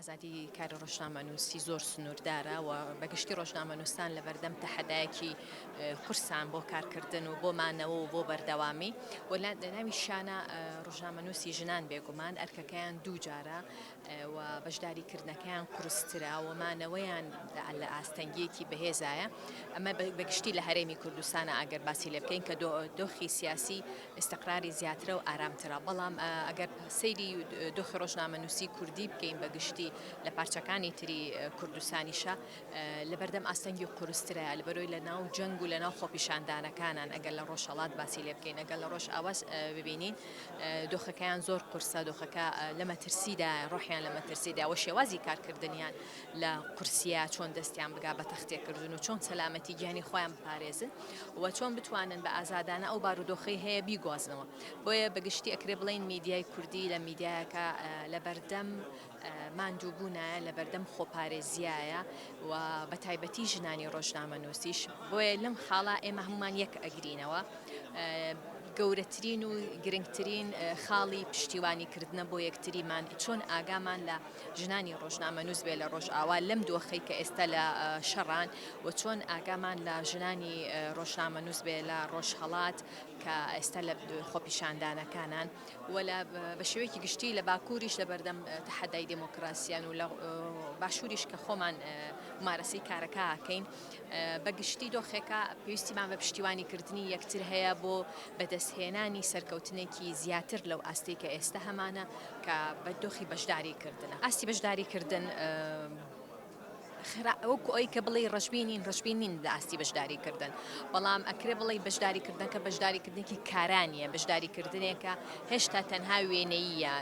ئازادی کاری ڕۆژنامەنووسی زۆر سنووردارە و بە گشتی ڕۆژنامەنووسان لەبەردەم تەحەدایەکی قورسان بۆ کارکردن و بۆ مانەوە و بۆ بەردەوامی و لە ناوی شانە ڕۆژنامەنووسی ژنان بێگومان ئەرکەکەیان دوو جارە و بەشداری کردنەکەیان قرسترا و مانەوەیان لە ئاستەنگیەکی بەهێزایە ئەمە بەگشتی لە هەرێمی کوردستانە ئەگەر باسی لێ بکەین کە دۆخی سیاسی ئیستقراری زیاترە و ئارامترە، بەڵام ئەگەر سەیری دۆخی ڕۆژنامەنووسیی کوردی بکەین بە گشتی لە پارچەکانی تری کوردستانیشا لە بەردەم ئاستەنگی قورسترە، لەبەرئەوەی لە ناو جەنگ و لە ناو خۆپیشاندانەکانان، ئەگەر لە ڕۆژهەڵات باسی لێ بکەین، ئەگەر لە ڕۆژئاواش ببینین دۆخەکەیان زۆر قورسە، دۆخەکە لە مەترسیدایە، ڕۆحیان لە مەترسیدایە و شێوازی کارکردنیان لە قورسیە چۆن دەستیان بگا بە تەختێکردن و چۆن سەلامەتی گیانی خۆیان بپارێزن و چۆن بتوانن بە ئازادانە ئەو بارودۆخی هەیە بیگوازنەوە بۆیە بەگشتی ئەکرێ بڵین میدیای کوردی لە میدیایەکە لە بەردەم ماندووبوونە لە بەردەم خۆپارێزیایە و بە تایبەتی ژنانی ڕۆژنامە نووسیش بۆیە لەم خاڵا ئێمە هەمومان یەک ئەگرینەوە گەورەترین و گرنگترین خاڵی پشتیوانی کردنە بۆ یەکتریمان چۆن ئاگامان لە ژنانی ڕۆژنامەنووس بێ لە ڕۆژئاوا لەم دۆخەی کە ئێستا لە شەڕان و چۆن ئاگامان لە ژنانی ڕۆژنامەنووس بێ لە ڕۆژهڵات کە ئێستا لە خۆپیشاندانەکانان و لە بە شێوەیەکی گشتی لە باکووریش لە بەردەم تەحەدای دموکراسیان و لە باشووریش کە خۆمان مارەسەی کارەکەکەین بەگشتی دۆخێکە پێویستیمان بە پشتیوانی کردنی یەکتر هەیە بۆ بەدەستهێنانی سەرکەوتنێکی زیاتر لەو ئاستەی کە ئێستە هەمانە کە بە دۆخی بەشداریکردنە. ئاستی بەشداریکردن خرا وەکو ئەوەی کە بڵێی ڕەشبین نین، ڕەشبین نین لە ئاستی بەشداریکردن، بەڵام ئەکرێ بڵێی بەشداریکردنەکە بەشداریکردنێکی کارا نییە، بەشداریکردنێکە هێشتا تەنها وێنەییە،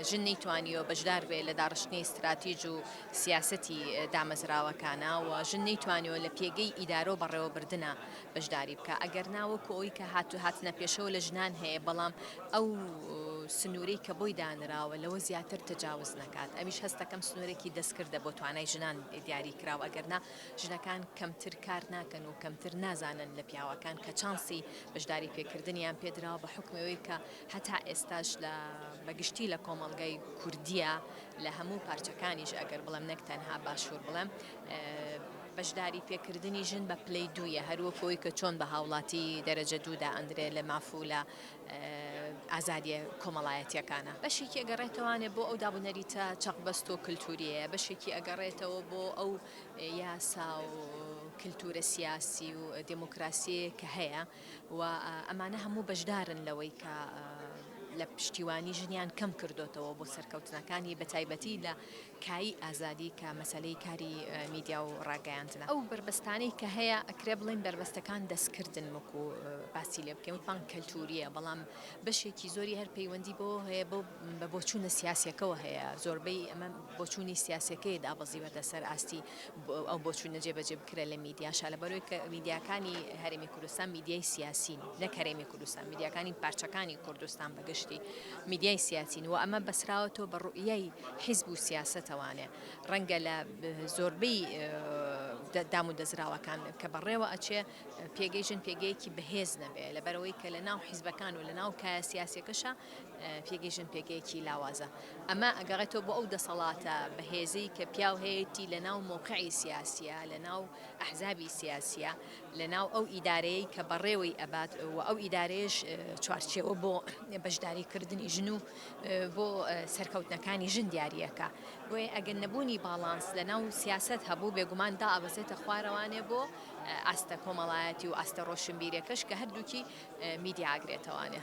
ژن نەیتوانیوە بەشدار بێت لە داڕشتنی ستراتیج و سیاسەتی دامەزراوەکانە و ژن نەیتوانیوە لە پێگەی ئیدارە و بەڕێوەبردنا بەشداری بکا ئەگەر نا وەکو ئەوی کە هاتوو هاتنە پێشەوە لە ژنان هەیە بەڵام ئەو سنوورەی کە بۆی دانراوە لەوە زیاتر تەجاوز نەکات ئەویش هەستەکەم سنوورێکی دەستکردە بۆ توانای ژنان دیاری کراوە ئەگەر نا ژنەکان کەمتر کار ناکەن و کەمتر نازانن لە پیاوەکان کە چانسی بەشداری پێکردنیان پێدراوە بە حکمەوەی کە هەتا ئێستاش لە بەگشتی لە کۆمەڵگای کوردیە لە هەموو پارچەکانیش ئەگەر بڵێم نەک تەنها باشوور بڵێم بەشداری پێکردنی ژن بە پلەی دوو یە هەر وەکو ئەوی کە چۆن بە هاوڵاتی دەرەجە دوو دا ئەندرێ لە ماف و لە ئازادیە کۆمەڵایەتیەکانە بەشێکی ئەگەڕێتەوانێ بۆ ئەو دابونەریتە چەق بەست و کلتوریەیە بەشێکی ئەگەڕێتەوە بۆ ئەو یاسا و کلتورە سیاسی و دموکراسیەیە کە هەیە و ئەمانە هەموو بەشدارن لەوەی کە لە پشتیوانی ژنیان کەم کردوتەوە بۆ سەرکەوتنەکانی بە تایبەتی لە کایی ئازادی کە مەسەلەی کاری میدیا و ڕاگەیاندنە. ئەو بەربەستانەی کە هەیە ئەکرێ بڵێین بەربەستەکان دەستکردن وەکو باسی لێ بکەین وتمان کەلتوریە بەڵام بەشێکی زۆری هەر پەیوەندی بەوە هەیە بەو بە بۆچوونە سیاسیەکەوە هەیە زۆربەی ئەمە بۆچوونی سیاسیەکەی دابەزیوەتە سەر ئاستی ئەو بۆچوونە جێبەجێ بکرێ لە میدیاشا لەبەرەوەی کە میدیاکانی هەرێمی کوردستان میدیای سیاسین نەک هەرێمی کوردستان میدیاکانی پارچەکانی کوردستان گشتی میدیای سیاسین و ئەمە بەسراوەتەوە بە ڕوئیای حیزب و سیاسەتەوانێ ڕەنگە لە زۆربەی دام و دەزراوەکان کە بەڕێوە ئەچێ پێگەی ژن پێگەیەکی بەهێز نەبێ لە بەرەوەی کە لە ناو حیزبەکان و لە ناو کایە سیاسەکەشە پێگەی ژن پێگەیەکی لاوازە ئەمە ئەگەڕێتەوە بۆ ئەو دەسەڵاتە بەهێزی کە پیاو هەیەی لە ناو مۆقعی سیاسە لە ناو ئەحزابی سیاسە لەناو ئەو ئیدارەیەی کە بەڕێوەی ئەبات و ئەو ئیدارەیەش چوارچێوە بۆ بەشداری کردنی ژن و بۆ سەرکەوتنەکانی ژن دیاریەکە بۆیە ئەگەر نەبوونی باڵانس لەناو سیاست هەبوو بێگومان دا ئەبەسێتە خوارەوانێ بۆ ئاستە کۆمەڵایەتی و ئاستە ڕۆشنبیرەکەش کە هەردووکی میدیاگرێتەوانێ.